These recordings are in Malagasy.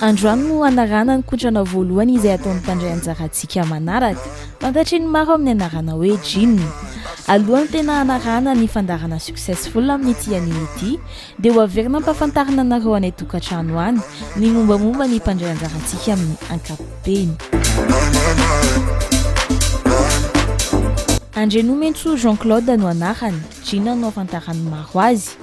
Androany no hanarahana ny kotrana voalohany izay ataon'ny mpandray anjara antsika manaraka. Fantatry ny maro amin'ny anarana hoe Jin. Alohan'ny tena hanarahana ny fandaharana Successful amin'ity anime ity dia ho averina ampahafantarina anareo any an-tokantrano any ny mombamomba ny mpandray anjara antsika amin'ny ankapobeny. Andrianomentsou Jean Claude no anarany, Jin no ahafantaran'ny maro azy.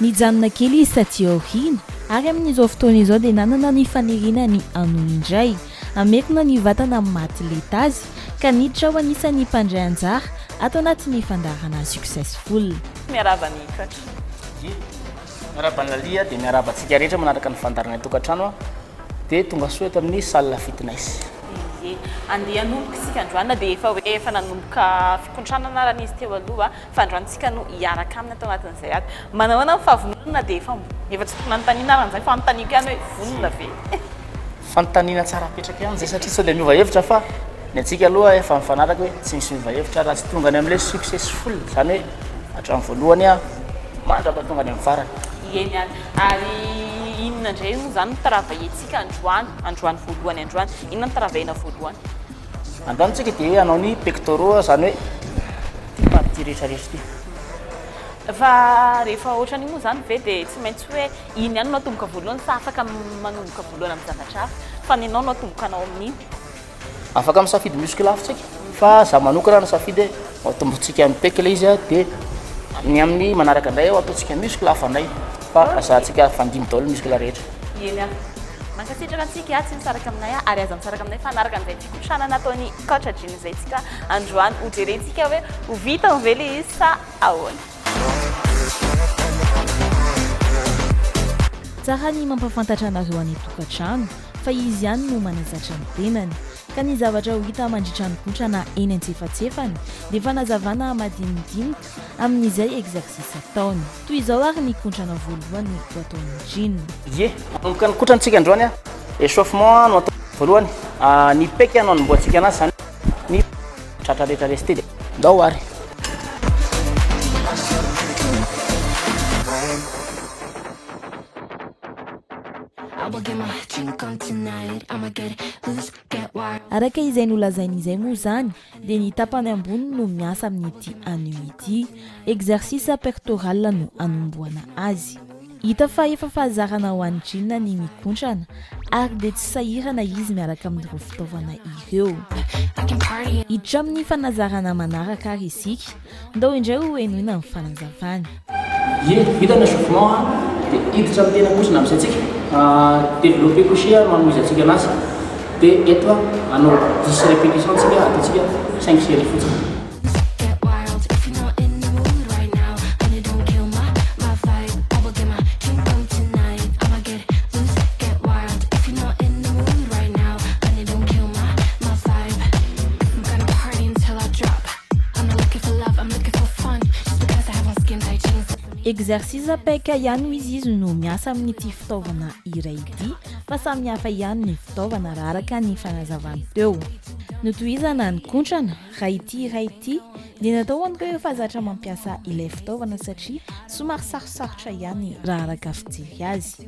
Nijanona kely izy taty aoriana, ary amin'izao fotoana izao dia nanana ny faniriana ny hanohy indray. Hamerina ny vatana amin'ny maha-aty lenta azy, ka niditra ho anisan'ny mpandray anjara ato anatin'ny fandaharana Successful. Miarahaba an'i Katra. Dia miarahaba an'i Lalia, dia miarahaba antsika rehetra manaraka ny fandaharana Tokantrano aho. Dia tonga soa eto amin'ny salle fitness. Dia andeha hanomboka isika androany, na dia efa hoe efa nanomboka fikontranana ary izy teo aloha. fandroantsika no hiaraka aminy ato anatin'izay ady. Manao ahoana ny fahavononana na dia efa efa tsy fanontaniana arany izany, fanontaniako ihany hoe vonona ve? Fanontaniana tsara apetraka ihany izay satria sao dia miova hevitra fa ny antsika aloha efa mifanaraka hoe tsy misy miova hevitra raha tsy tonga any amin'ilay successful, izany hoe hatramin'ny voalohany mandrapa tonga any amin'ny farany. Eny ihany. Ary inona indray moa izany no travailler-tsika androany, androany voalohany androany? Inona no travailler-na voalohany? Androany isika dia hanao ny pectoraux, izany hoe ity partie ity rehetra rehetra ity. Fa rehefa ohatran'io moa izany ve dia tsy maintsy hoe iny ihany no atomboka voalohany sa afaka manomboka voalohany amin'ny zavatra hafa? Fa ny anao no atomboka anao amin'iny. Afaka misafidy muscle hafa isika, fa izaho manokana no safidy hoe atombotsika amin'ny pec ilay izy dia ny amin'ny manaraka indray eo ataontsika muscle hafa indray fa azahantsika fandimby daholo ny muscle rehetra. Eny a. Mankasitraka antsika atsy misaraka aminay ary aza misaraka aminay mifanaraka amin'izay fikotranana ataon'i Coach Adriana izay tsika androany ho jerentsika hoe ho vitany ve le izy sa ahoana. Tsara ny mampafantatra anareo any an-tokantrano fa izy ihany no manazatra ny tenany. Ka ny zavatra ho hita mandritra ny kotrana eny antsefatsefany dia fanazavana madinidinika amin'izay exercice ataony. Toy izao ary ny kontrana voalohany ho ataon'i Gene. Ie, manomboka ny kontrantsika androany an! Echauffement no atao voalohany. Ny pec no anombohantsika anazy, izany hoe ny tratra rehetra resty dia ndao ary. Araka izay nolazainy izay moa izany dia ny tapany ambony no miasa amin'ity anneau ity, exercice pectoral no anombohana azy. Hita fa efa fahazarana ho an'i Gina ny mikontrana ary dia tsy sahirana izy miaraka amin'ireo fitaovana ireo. Hiditra amin'ny fanazarana manaraka ary isika. Ndao indray ho henoina ny fanazavany. Ye, vita ny echauffement a, dia hiditra amin'ny tena kosa namisa antsika. Développer couché ary mamoiza antsika anazy. Dia eto a, hanao dix répétitions antsika, ataontsika cinq séries fotsiny. Exercice paika ihany ho izy izy no miasa amin'ity fitaovana iray ity fa samy hafa ihany ny fitaovana raha araka ny fanazavany teo. Notohizana ny kontrana raha ity iray ity dia natao ho an'ireo efa zatra mampiasa ilay fitaovana satria somary sarosarotra ihany raha araka fijery azy.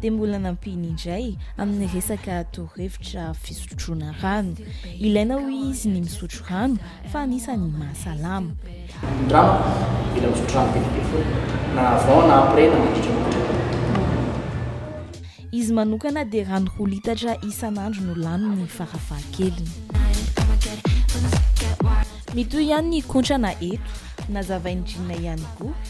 dia mbola nampiany indray amin'ny resaka torohevitra fisotroana rano. Ilaina hoy izy ny misotro rano fa anisan'ny mahasalama. Andramo, mila misotro rano be dia be foana, na avant na après na mandritra ny andro. Izy manokana dia rano roa litatra isan'andro no laniny farafahakeliny. Mitohy ihany ny kontrana eto. Nazavain'i Gina ihany koa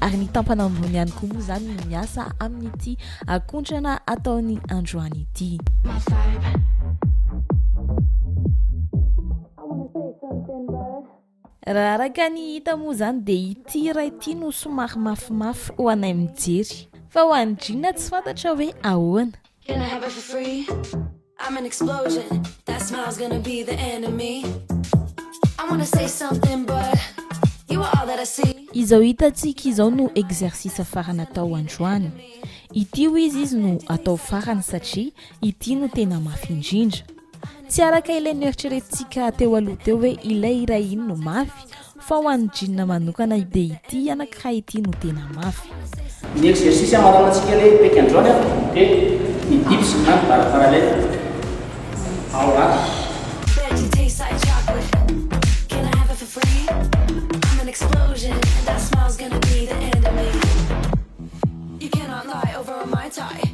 ary ny tampana ambony ihany koa moa izany no miasa amin'ity akontrana ataony androany ity. Raha araka ny hita moa izany dia ity iray ity no somary mafimafy ho anay mijery. Fa ho an'i Gina tsy fantatra hoe ahoana. Can I have it for free? I'm an explosion that smile's gonna be the enemy I wanna say something but you are all that I see Izao hitantsika izao no exercice farany atao androany. Ity hoy izy izy no atao farany satria ity no tena mafy indrindra. Tsy araka ilay noeritreretintsika teo aloha teo hoe ilay iray iny no mafy, Fa ho an'ny jeans manokana ity dia ity anankiray ity no tena mafy. Ny exercice amaranan-tsika le hipeky androany an dia ny dips na ny barre parallèle ao anaty.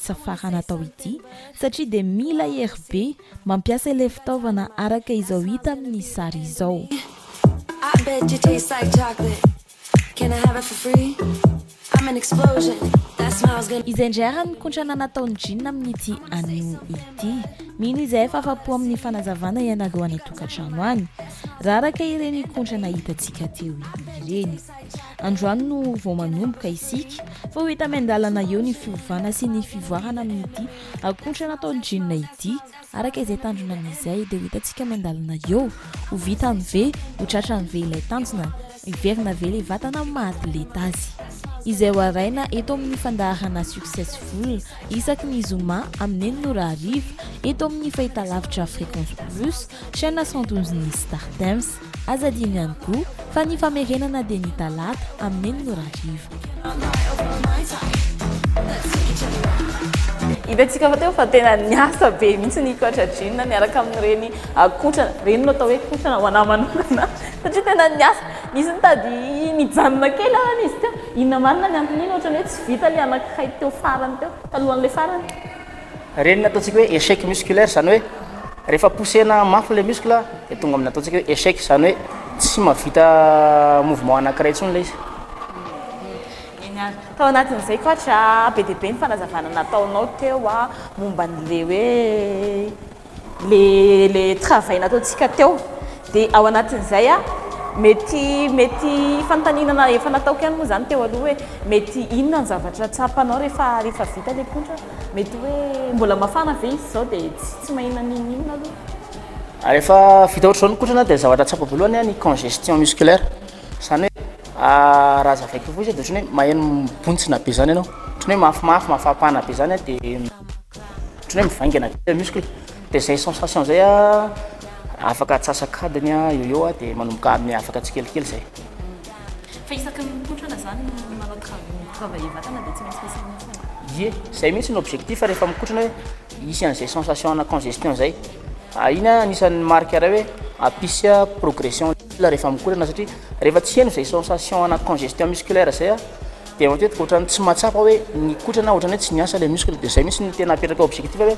tsy safarana atao ity satria dia mila hery be mampiasa ilay fitaovana araka izao hita amin'ny sary izao. Izay indray ary ny kontrana nataon'i Jin amin'ity anio ity. Mino izahay fa afa-po amin'ny fanazavana ianareo any an-tokantrano any, raha araka ireny kontrana hitantsika teo ireny. Androany no vao manomboka isika fa ho hita miandalana eo ny fiovana sy ny fivoarana amin'ity akotra natao jeans ity. Araka izay tanjona amin'izay dia ho hitantsika miandalana eo. Ho vitany ve? Ho tratrany ve ilay tanjona? Hiverina ve ilay vatana amin'ny maha atleta azy? Izay ho haraina eto amin'ny fandaharana Successful isaky ny zoma amin'ny enina ora hariva eto amin'ny fahitalavitra Fréquence Plus, chaîne 112-n'ny Startimes. Aza adino ihany koa fa ny famerenana dia ny talata amin'ny enina ora hariva. Hitantsika fa teo fa tena niasa be mihitsy ny coach Jean miaraka amin'ireny ah, kotrana ireny no atao hoe kotrana ho anà manokana satria tena niasa nisy nitady nijanona kely arany izy teo inona marina ny anton'iny ohatrany hoe tsy vita ilay anankiray teo farany teo talohan'ilay farany Ireny ny ataontsika hoe échec musculaire, izany hoe rehefa poussena mafy ilay muscle dia tonga amin'ny ataontsika hoe échec, izany hoe tsy mahavita mouvement anankiray intsony ilay izy. Eny ary. Tao anatin'izay coach a, be dia be ny fanazavana nataonao teo momba an'ilay hoe. Ilay ilay travail nataontsika teo dia ao anatin'izay a mety mety fanontaniana efa nataoko ihany moa izany teo aloha hoe mety inona ny zavatra tsapanao rehefa rehefa vita ilay pontra? Mety hoe mbola mafana ve izy izao dia tsy tsy maninona n'inon'inona aloha. Rehefa vita ohatr'izao ny kotrana dia ny zavatra tsapako voalohany a ny congestion musculaire, izany hoe raha hazavaiko fohy izy a dia ohatran'ny hoe maheno mibontsina be izany ianao, ohatran'ny hoe mafimafy, mafampana be izany a dia. Ohatran'ny hoe mivaingana be ilay muscle. Dia izay sensation izay afaka atsasak'adiny eo ho eo dia manomboka miavaka tsikelikely izay. Fa isaky ny mipoitra aza izany no manao travaux mi-travailler vatana dia tsy maintsy misy an'iny foana? Ie, izay mihitsy no objectif rehefa mikotrana hoe hisy an'izay sensation ana congestion izay. Iny anisan'ny marque iray hoe hampisy progression ny muscle rehefa mikotrana satria rehefa tsy heno izay sensation ana congestion musculaire izay, Dia matetika ohatran'ny tsy mahatsapa hoe nikotrana, ohatran'ny hoe tsy niasa ilay muscle, dia izay mihitsy no tena apetraka objectif hoe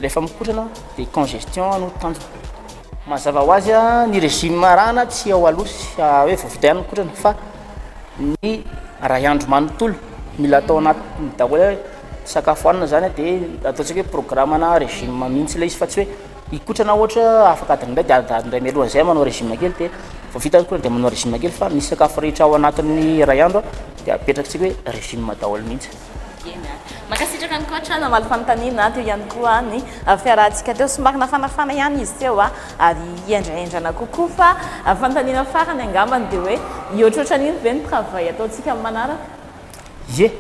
rehefa mikotrana dia congestion no tanjona. Mazava ho azy, ny régime arahana tsy ao aloha sy hoe vao vita ihany ny kotrana fa ny iray andro manontolo, mila atao anatin'ny daholo hoe sakafo hanina izany dia ataontsika hoe programme na régime mihitsy ilay izy fa tsy hoe. hikotrana ohatra afaka adiny iray dia adiny iray mialoha an'izay manao régime kely dia vao vita hikotrana dia manao régime kely fa ny sakafo rehetra ao anatin'ny iray andro dia apetrakintsika hoe régime daholo mihitsy. Eny a. Mankasitraka an'i coach a, namaly fanontaniana a, teo ihany koa ny fiarahantsika teo, somary nafanafana ihany izy teo a, ary hendrahendrana kokoa fa fanontaniana farany angambany dia hoe, mihoatroatra an'iny ve ny travail ataontsika amin'ny manaraka? Ie,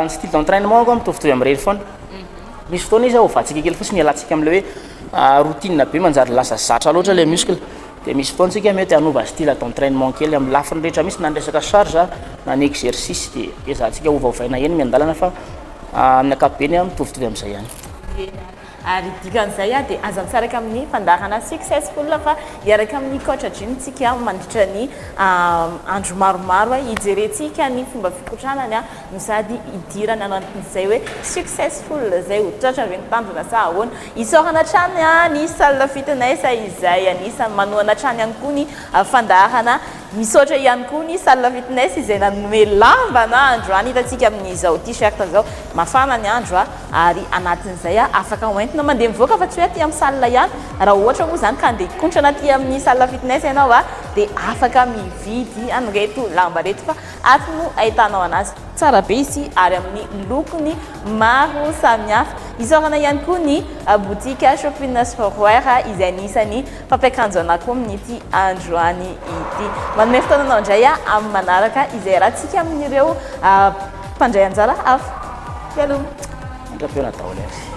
ny style d'entrainement angamba mitovitovy amin'ireny foana. Misy fotoana izy ovatsika kely fotsiny hialantsika amin'ilay hoe routine be manjary lasa zatra loatra ilay muscle. Dia misy fotoana tsika mety hanova style d'entrainement kely amin'ny lafiny rehetra mihitsy na ny resaka charge na ny exercice dia ezahantsika ovaovaina eny miandalana fa amin'ny ankapobeny mitovitovy amin'izay ihany. Ary dikan'izay aho dia aza misaraka amin'ny fandaharana successful fa hiaraka amin'i Coach Jim tsika mandritra ny andro maromaro hijerentsika ny fomba fikotranany no sady hidirana anatin'izay hoe successful izay ho tratra ve ny tanjona sa ahoana. Isaorana hatrany ny salle fitness izay anisan'ny manohana hatrany ihany koa ny fandaharana. Misaotra ihany koa ny salle fitness izay nanome lamba na andro any hitantsika amin'izao t-shirt izao. Mafana ny andro a! ary anatin'izay a afaka hoentina mandeha mivoaka fa tsy hoe aty amin'ny salle ihany. Raha ohatra moa izany ka handeha hikontrana aty amin'ny salle fitness ianao a! dia afaka mividy an'ireto lamba ireto fa ato no ahitanao anazy. Tsara be izy ity ary amin'ny lokony maro samihafa. Isaorana ihany koa ny boutique Shoppiness for Wear izay anisan'ny Mpampiakanjo anà koa amin'ity androany ity. Manome fotoana anao indray aho amin'ny manaraka izay iarahantsika amin'ireo mpandray anjara hafa. Mialoha. Mandra-pihaona daholo ary.